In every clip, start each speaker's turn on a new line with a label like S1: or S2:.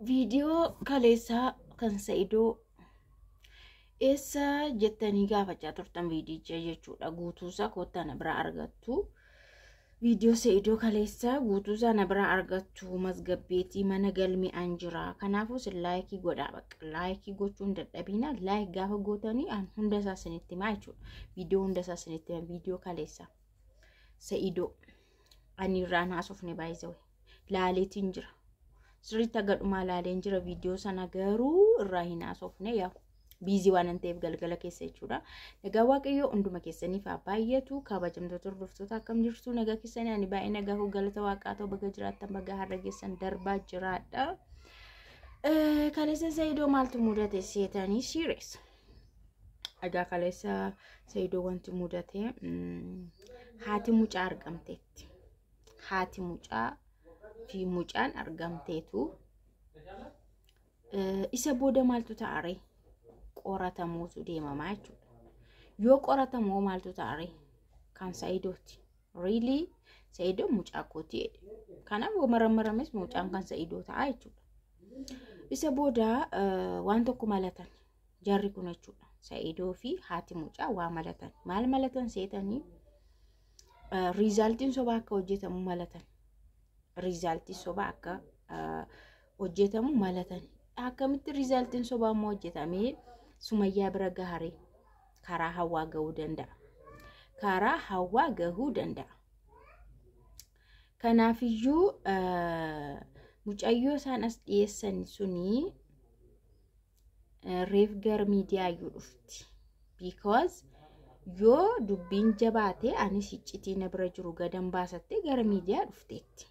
S1: viidiyoo kaleessaa kan sa'idoo eessa jettanii gaafachaa turtan viidiyicha jechuudha guutuusaa koottaa na biraa argattu viidiyoo sa'idoo kaleessaa guutuusaa na biraa argattu masgabbeetii mana galmi an jira kanaafuu sin laayikii godhaa bakka laayikii gochuun dadhabiina laayik gaafa gootanii an hunda isaa sinitti himaa jechuudha viidiyoo hunda isaa sinitti himaa viidiyoo kaleessaa sa'idoo. Ani irraan haasofne baay'isewe. Laaleetiin jira. Sirriitti haga dhumaa laaleen jira viidiyoo sana garuu irraa hin haasofne yaa biizii waan hin ta'eef galgala keessa jechuudha. Nagaa Waaqayyoo hunduma keessaniif haa baay'atu kabajamtoota hordoftoota akkam jirtu nagaa keessanii ani baay'ee nagaa hoo galata waaqaa ta'u baga jiraattan baga har'a geessan darbaa jiraadha. Kaleessa Zayidoo maaltu mudate seetanii siireessa. Egaa kaleessa Saidoo wanti mudate haati mucaa argamteetti. Haati mucaa fi mucaan argamteetu isa booda maaltu ta'are qoratamuutu deemamaa jechuudha. Yoo qoratamu maaltu ta'are kan Saidooti. Really? Sa'idoon mucaa kooti jedhe. Kanaaf yoo marammarames mucaan kan sa'idoo ta'a jechuudha. Isa booda eh, waan tokko malatan jarri kun jechuudha. Sa'idoo fi haati mucaa waa malatan. Maal malatan seetanii eh, riizaaltiin sobaa akka hojjetamu malatan. Riizaaltii sobaa akka eh, hojjetamu malatan. Akkamitti riizaaltiin sobaa immoo hojjetamee sumayyaa bira gaharee? karaa hawaa gahuu danda'a. Karaa hawaa gahuu danda'a. Kanaafiyyuu mucayyoo isaan as dhiyeessan sunii reef gara miidiyaa iyyuu dhufti. Because yoo dubbiin jabaate anis iccitii na bira jiru gadan baasattee gara miidiyaa dhufteetti.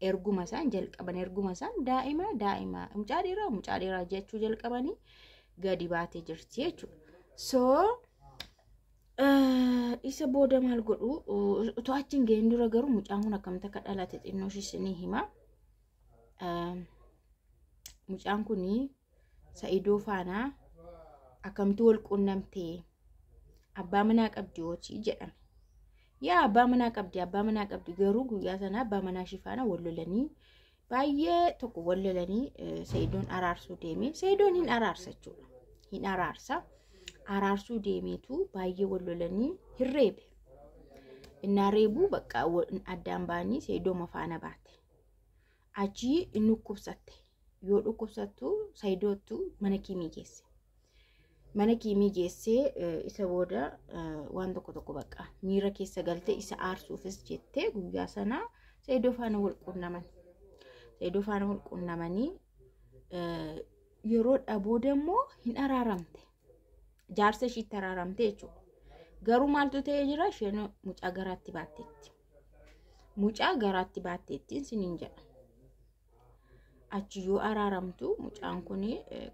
S1: erguma isaan jalqaban erguma isaan daa'ima daa'ima mucaa dhiiraa mucaa dhiiraa jechuu jalqabanii gadi baatee jirti jechuudha. So isa booda maal godhu utuu achi hin ga'in dura garuu mucaan kun akkamitti akka dhalate xinnoo ishis ni hima. Mucaan kun sa'idoo faanaa akkamtu wal quunnamtee abbaa manaa qabdi hojii jedhame. Yaa abbaa manaa qabdi abbaa manaa qabdi garuu guyyaa sana abbaa manaa ishii faana wal lolanii baay'ee tokko wal lolanii sa'idoon araarsuu deeme sa'idoon hin araarsa jechuudha hin araarsa araarsuu deemeetu baay'ee wal lolanii hin reebe innaa reebuu bakka addaan ba'anii sa'idooma faana baate Achii hin dhukkubsatte. Yoo dhukkubsattu sayidoottu mana kiimii geesse. Mana kiimii geessee eh, isa booda eh, waan tokko tokko bakka miira keessa galte isa aarsuufis jettee guyyaa sana sayidoo faana wal quunnaman. Sayidoo faana wal quunnamanii eh, yeroo dha booda immoo hin araaramte. Jaarsa ishiitti araaramte jechuudha. Garuu maaltu ta'ee jira isheen mucaa garaatti baatteetti. mucaa garaatti baatteettiin siniin jedha. Achi yoo araaramtu mucaan kun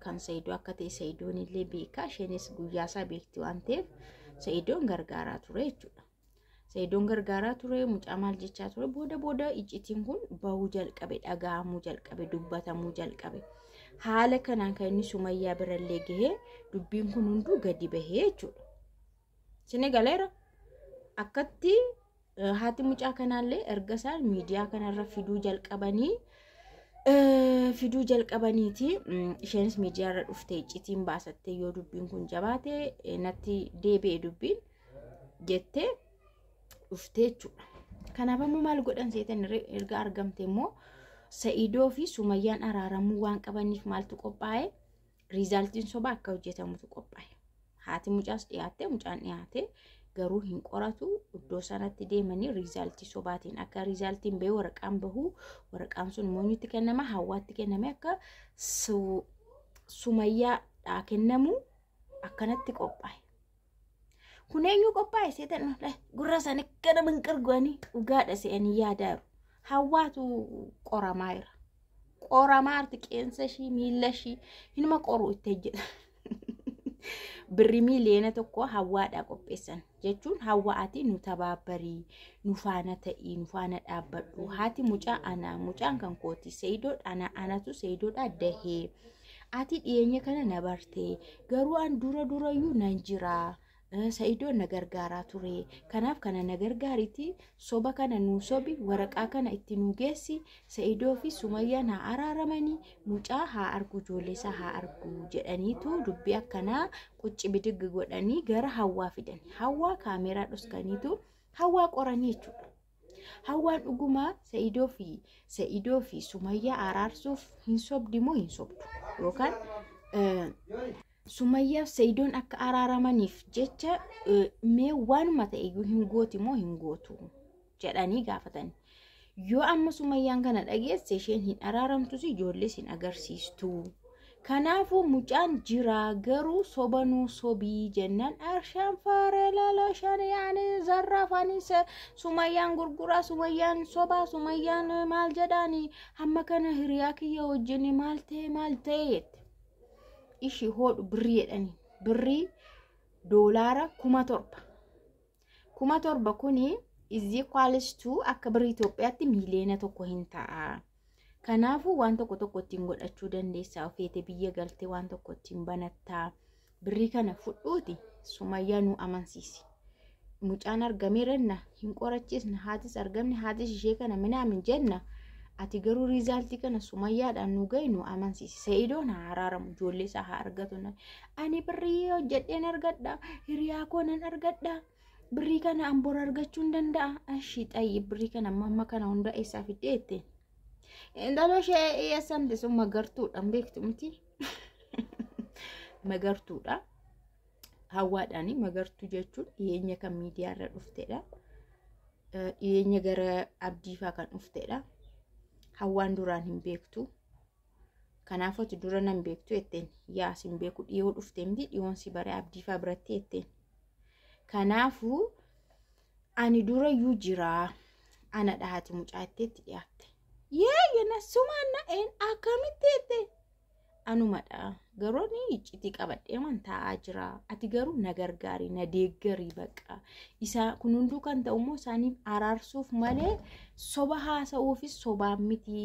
S1: kan Sa'idoo akka ta'e Sa'idoon illee beekaa isheenis guyyaa isaa beekti waan ta'eef Sa'idoon gargaaraa ture jechuudha. Sa'idoon gargaaraa ture mucaa maal jechaa ture booda booda iccitiin kun bahuu jalqabe dhaga'amuu jalqabe dubbatamuu jalqabe. Haala kanaan kan inni sumayyaa birallee gahee dubbiin kun hunduu gadi bahee jechuudha. Sini galeera akkatti eh, haati mucaa kanaallee erga isaan miidiyaa kanarra fiduu jalqabanii eh, fiduu jalqabaniiti mm, isheenis miidiyaarra dhuftee iccitiin baasattee yoo dubbiin kun jabaate eh, natti deebi'e dubbiin jettee dhuftee jechuudha. Kanaaf ammoo maal godhan seetan irra- erga argamte immoo Sa'idoo fi Sumayyaan araaramuu waan qabaniif maaltu qophaa'e riizaaltiin sobaa akka hojjetamutu qophaa'e. Haati mucaas dhiyaattee mucaan dhiyaatee garuu hin qoratu iddoo sanatti deemanii riizaaltii sobaatiin akka riizaaltiin ba'ee waraqaan bahu waraqaan sun moonyutti kennama hawaatti kenname akka sumayyaadhaa kennamu akkanatti qophaa'e. Kun eenyu qophaa'e seetan gurra isaanii gara minqirgoanii dhugaadha se'anii yaadaaru. Hawwaatu qoramaa jira. Qoramaa arti qeensa ishii miila ishii hinuma qoruu itti hojjeta. Birri miiliyoona tokko hawwaadhaa qopheessan jechuun hawwaati nu tabaabbarii nu faana ta'ii nu faana dhaabbadhu haati mucaa anaa mucaan kan kooti seeyidoodha anaa anatu seeyidoodha dahee. Ati dhiyeenya kana na barte garuu an dura durayyuu nan jira eh, sa'idoon na gargaaraa ture kanaaf kana na gargaariti soba kana nuu sobi waraqaa kana itti nuu geessi sa'idoo fi sumayyaan haa araaramanii mucaa haa argu ijoollee isaa haa argu jedhaniitu dubbii akkanaa qucci bidiggi godhanii gara hawwaa fidani hawwaa kaameeraa dhoskaniitu hawwaa qoranii jechuudha. Hawwaan dhugumaa Sa'idoo fi Sa'idoo fi Sumayyaa araarsuuf hin sobdi moo hin sobdu? Yookaan Sumayyaaf Sa'idoon akka araaramaniif jecha mee waanuma ta'e iyyuu hin gooti moo hin gootu jedhanii gaafatan. Yoo amma Sumayyaan kana dhageesse isheen hin araaramtus ijoollees hin agarsiistu. Kanaafuu mucaan jiraa garuu soba nuu sobii jennaan arshaan faaree laala shanii ani zarraaf ani se- sumayyaan gurguraa sumayyaan sobaa sumayyaan eh, maal jedhaani hamma kana hiriyaa kiyya wajjin maal ta'e maal ta'e jette ishii hoodhu birrii jedhanii birrii doolaara kuma torba kuma torba kuni is equals to akka birri Itoophiyaatti miiliyoona tokko hin ta'a. Kanaafuu waan tokko tokko ittiin godhachuu dandeessaa ofeete biyya galtee waan tokko ittiin banattaa birrii kana fudhuuti sumayyaa nu amansiisi. Mucaan argamee renna hin qorachiisna haatis argamne haatis ishee kana minaamin jenna. Ati garuu riizaaltii kana sumayyaadhaan nu gahi nu amansiisi. Sa'idoon haa haraaramu ijoollee isaa haa argatu. ani birrii hojjedheen argadha hiriyaa koo nan argadha birrii kana an bor argachuu hin danda'a ashii xayyi birrii kana amma amma kana hunda eessaa fiddee jettee intaloo ishee eessamte sun magartuudha hin beektu miti magartuudha hawwaadhaani magartuu jechuun dhiyeenya kan miidiyaa irra dhuftedha Eh, dhiyeenya gara abdiifaa kan dhuftedha hawwaan duraan hin beektu Kanaafuu ati dura nan beektu jetteen yaa sin beeku dhiyoo dhufte miti dhiyoon si bare abdiifaa biratti jetteen. Kanaafuu ani dura yuu jiraa ana dhahati mucaa jetteetti dhiyaatte. Yee jenna sumaan na een akkamitti jette anumadha garuu ani iccitii qabadhee man taa'aa jira ati garuu na gargaari na deeggarii baqa isaa kun hunduu kan ta'u immoo isaaniif araarsuuf malee soba haasa'uufis sobaan miti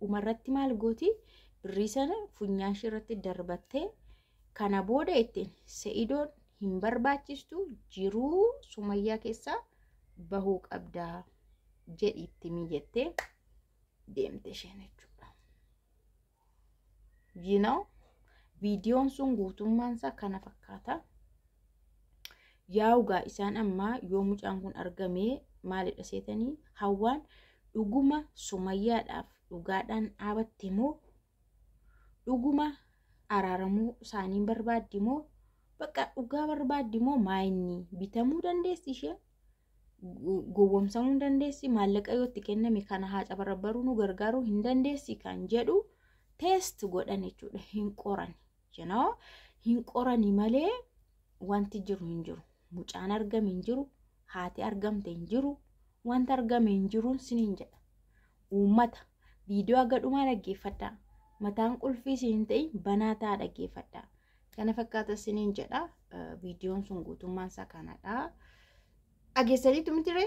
S1: Dhumarratti maal gooti birrii sana funyaan ishee irratti darbattee kana booda ittiin se'idoon hin barbaachistu jiruu sumayyaa keessaa bahuu qabda jedhi itti mijettee deemte isheen jechuudha. you know viidiyoon sun guutummaan isaa kana fakkaata yaa'ugaa isaan ammaa yoo mucaan kun argamee maalidha seetanii hawwaan dhuguma sumayyaadhaaf dhugaadhaan dhaabatte moo dhuguma araaramuu isaaniin barbaaddi moo bakka dhugaa barbaaddi moo maayinni bitamuu dandeessi ishee gowwomsamuu hin dandeessi maallaqa yoo itti kenname kana haa cabarabbaruu nu gargaaruu hin dandeessi kan jedhu teest godhan jechuudha hin qoran jenoo hin qorani malee wanti jiru hin jiru mucaan argame hin jiru haati argamte hin jiru wanti argame hin jiruun siniin jedha Uummata, viidiyoo haga dhumaa dhaggeeffadhaa. Mataan qulfii isin hin ta'in banaa ta'aa dhaggeeffadhaa. Kana fakkaata isiniin jedha. Viidiyoon sun guutummaan isaa kanadha. Dhageessaniitu mitiree?